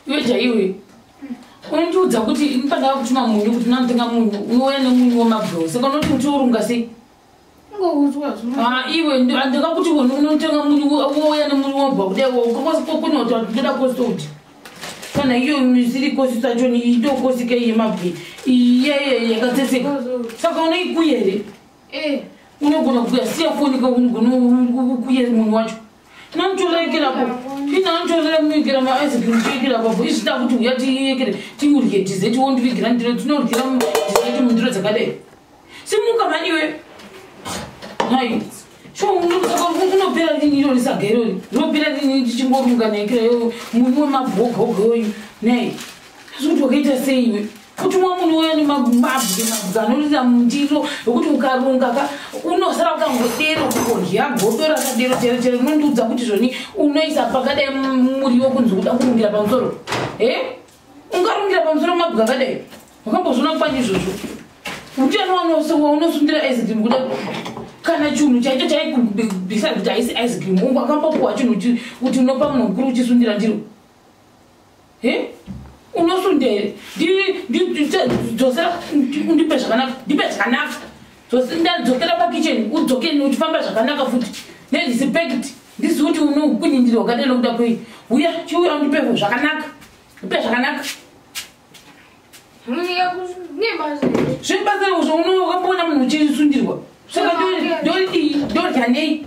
iwe jaiwe unondiudza kuti ndipandava kutuma munyu kuti unamutenga munyu unouya nemunyu wemabro saka unoti kuti urunga sei iwe ndakakuti unotenga munyu wouya nemunyu wobva kudai kokunoti ndoda kosoti kana iyo misiri kosi sacho idokosi kei yemabwi iyeye yakatseseka saka unoikuya here eh. unogona kuya siya foni kaunogona kuya munhu wacho tinotorekera po tinatoremuikira maice cream toikira papo izvi tida kuti uya tiekere tiurye tize tiwondivigira ndiro tinoryira tizeti mundiro dzakadai simuka mani iwe mai unopera lini iro risaga irori rinopera lini tichingorunga naikira yo muni wemabhogogo oyu nai zvikuti wakaita sei iwe kuti mwa munhu uya nemababwe mabwe anorira mundiro ekuti ukarunga ka unosara ukangodero kukodya godo rakadero chero chero unondiudza kuti zvoni unoisa pakadai muriwo kunzi kuda kurungira pamusoro e ungarungira pamusoro mabwe akadai wakambozvona kupani izvozvo utano wanosowa unosundira ice cream kuda kana chinhu chaicho chaikubisa kuti haisi ice cream ungakambopuwa chinhu kuti unopa munhu mukuru uchisundira ndiro he unosundei ndipe zvakanaka ndipe zvakanaka dzokera pakitchen udzoke uchifamba zvakanaka futi nerespect ndizivi kuti unokunyindira wakadai nokuda kwei uya chiuya undipe zvakanaka ndipe zvakanaka zvebasa uzo unokamboona munhu uchisundirwa saka ndodyanei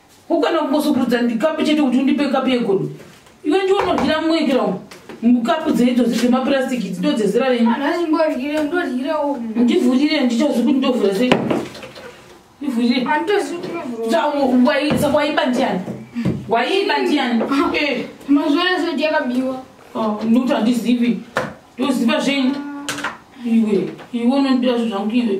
ukana kukosokurudza ndikapu chete kuti undipe kapu yegodo iwe ndiwo unodyira mumwe ikira umu mukapu dzeidzo dzemapurastic idzo ndodzezera renindivhurire ndichazi kuti ndovhura sei ndivhurirewaisa waiba ndiani waiba ndiani mazvorezodyakabiwa ndokuti handizivi ndoziva zvenyu iwe iwe unondira zvo zvangu iwe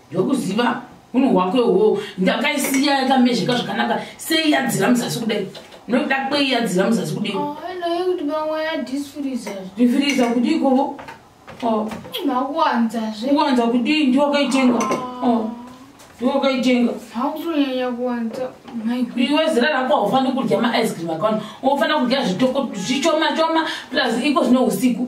ndokuziva unhu hwako ihwowo ndakaisiya yakamezheka zvakanaka sei yadzira muzasi kudai nokuda kwei yadzira muzasi kudai oh, ndifiriza kudii kovo oh. kuwanza kudii ndiwakaitenga oh. ndiwakaitenga iwe zira rako haufaniri kudya maice cream akaona unofanira kudya zvitoko zvichomachoma plus iko zvine usiku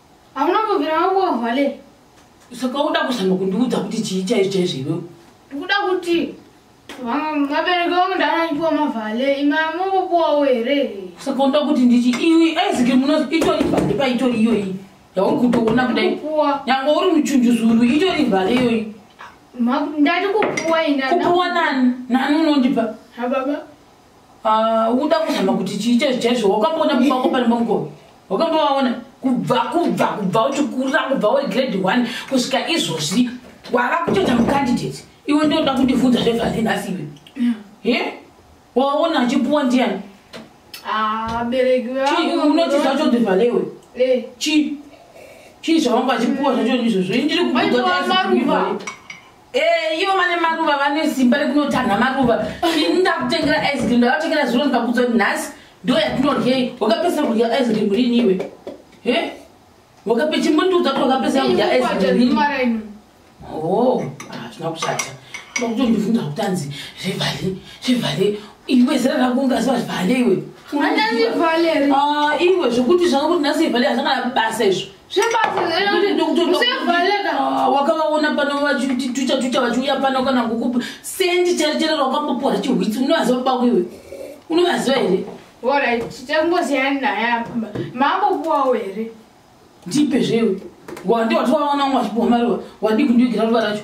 Hamuna kubvira makuohwa le. Saka uda kuzama kundiudza kuti chii chaizvo chaizvo iwewe? Ndikuda kuti vabereki vangu ndanachiwa mavhale imi amungopuwawo here? Saka unoda kuti ndichi iwe aizike muno itori vhale paitori iyoyi yauri kutoona kudai nyangwe uri muchunjuzuru itori vhale iyoyi ndati kupuwa ini kupuwa nani nani unondipa ha baba Ah, uda kuzama kuti chii chaizvo chaizvo wakamboona baba vako pane pamukova wakambovaona kubva kubva kubva uchikurira kubva uri grade one kusvika izvozvi wava kutoita mucandidate iwe ndoda kundivhunza zvevhasi nhasi iwe ye waona achipuwa ndiyani ah, unoti zvacho ndivhalewe eh. chii chii zvavanga achipuwa zvacho izvozvo ndiri kuuaa Eh, ivo vane maruva vane simba rekunotanha maruva ini ndakutengera ice cream ndakatengera zviro ndikakudza kuti nhasi ndo yatinorye wakapesa kudya ice cream rini iwe he wakape chimbondiudza kuti wakapesa kudya ice cream rini oh hazvina ah, kushata ndakutondivhunza kuti anzi zvevhale zvevhale iwe zera rako ungaziva zvevhale iwe ah, iwe zvekuti zvanga kuti nhasi ivhale hazvangana basa izvo Ah, wakavaona pano vachitucha tucha vachiuya pano kana kukupa sendi chari chero rakambopuwa chihwitsi unovaziva baba iwe unovaziva here orit tangoziyani naya mambopuwawo here ndipe zvewe wandi watiwaona umwe achipuwa mariwa wadii kundiugira ruva racho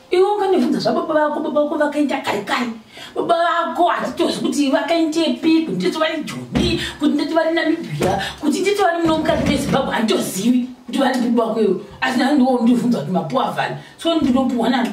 iwe unganivhunza zvababa vako baba vako vakaita kari kari baba vako hatitozi kuti vakaitepi kuti ndito vari joni kuti ndito vari namibia kuti ndito vari muno mukati mezimbabwe handitozivi kuti vari baba vako iwe asi nani ndiwo ndivhunza kuti mapuwa vani so ndinopuwa nani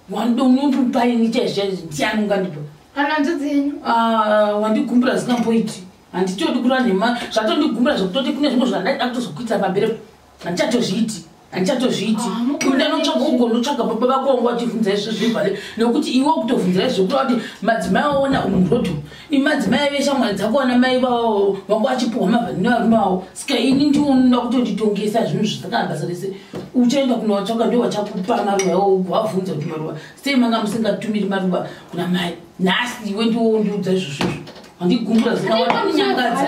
wanoda unopupaini chaizvizvaizi ndiani ungandipa kana nzodzi yenyu ah, wandigumbura zikamboiti handitodi kura nhema zvatondigumbura zvekutoti kune zvimwe zvandaida kutozokuita pamberi handichatozviiti handichatozviiti ah, kunda notsvaga ugonotsvaga baba vako wanga wachivhunza izvo zvivhale nekuti iwe kutovhunza izvo kuta kuti madzimai waona umuroto imadzimai ave shamwari dzako wana mai vavo wanga wachipuhwa mavhanini varume vavo ska ini ndionoda kutonditongesa zvinhu zvisakana basa rese uchaenda kunowatsvaga ndo wachakupa maruva iwo ugowavhunza kuti maruva sei manga musingatumiri maruva kuna mai nhasi iwe ndiwo ndiudza izvozvo izvo handigumbura zinawaanyangadza